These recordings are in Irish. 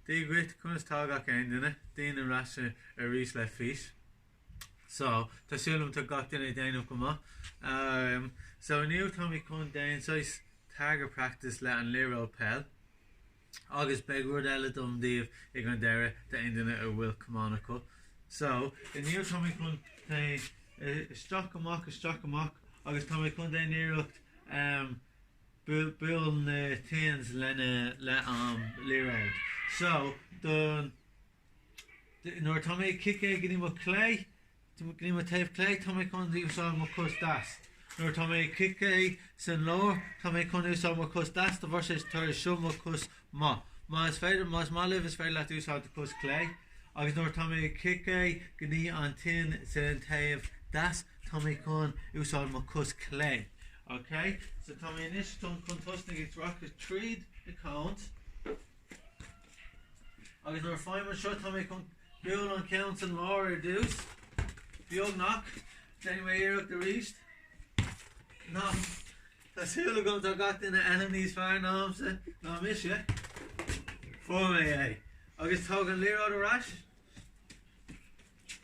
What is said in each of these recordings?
Dia dhuit, conas tá gach aon duine? Déanaim ar ais arís le fís. So, tá súil agam tá gach duine ag déanamh go maith. Umm, so inniu táimid chun déan saghas target practice le an liathróid peil agus beidh rud eile agam daoibh ag an deireadh d'aon duine a bhfuil camán acu. So, inniu táimid chun téigh isteach amach isteach amach agus táimid chun déan iarracht umm buail na tins lena leis an liathróid. So, nuair tá mé ag ciceáil go dtí mo chlé, go dtí mo taobh clé, tá mé chun úsáid mo chos deas. Nuair atá mé ag ciceáil san lár, tá mé chun úsáid mo chos deas de bhrí is é seo mo chos maith. Má is féidir, má is maith libh, is féidir leat úsáid do chos clé. Agus nuair atá mé ag ciceáil go dtí an tin san taobh deas, tá mé chun úsáid mo chos clé. Ok, so tá mé anois chun chun tosnaigh ag rachaidh tríd na cones agus nuair a faighim seo tá mé chun bualadh an ceann san lár ar dtús, beagnach, déanfaidh mé iarracht arís. Ná, tá súil agam tá gach duine níos fearr námsa ná mise. Fuair mé é. Agus tóg an liathróid arais.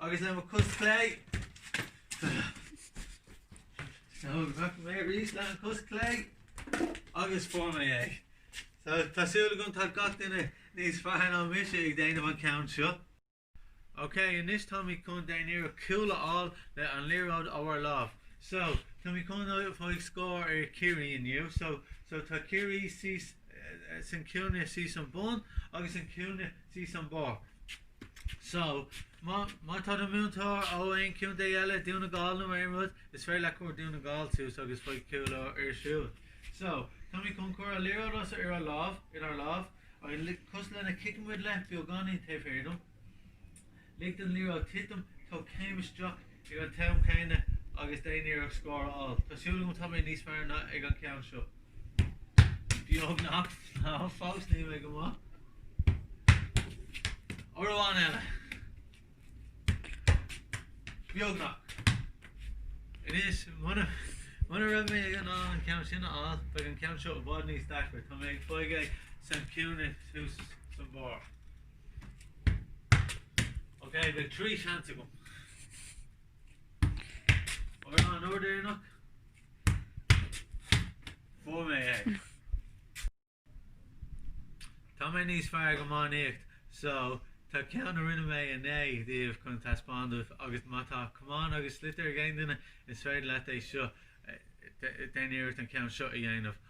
Agus le mo chos clé, beagnach, arís le an chos clé agus fuair mé é. So tá súil agam tá gach duine níos fearr ná mise ag déanamh an ceann seo. Ok, anois táimid chun déan iarracht cúl a fháil le an liathróid as ár lámh. So, táimid chun faigh scór ar Ciarraí inniu. So, so tá Ciarraí síos san cúinne, síos san bun agus san cúinne thuas san barr. So, má tá do mhúinteoir ó aon contae eile, Dún na Gall nó aon rud, is féidir leat cur Dún na Gall suas agus faigh cúl orthu siúd. So, táimid chun cur an liathróid as ar ár lámh, inár lámh, agus cosúil lena ciceann muid leis, beagáinín taobh thiar de, lig don liathróid titim, tóg céim isteach, Ag an t-am céanna, agus déan iarracht scór a fháil, tá súil agam, tá mé níos fearr ná ag an ceann seo. Beagnach. Ná fós níl mé go maith. Uair amháin eile. Beagnach. Anois, muna muna raibh mé in ann an ceann sin a fháil, beidh an ceann seo i bhfad níos deacra. Tá mé ag faigh é san cúinne thuas san barr. Ok, beidh trí seans agam. Ar an uair dheireanach? Fuair mé é. Tá mé níos fearr ag iománaíocht, so tá ceann a rinne mé inné daoibh chun taispeáin daoibh agus má tá camán agus sliotar ag aon duine is féidir leat é seo, déan iarracht an ceann seo a dhéanamh.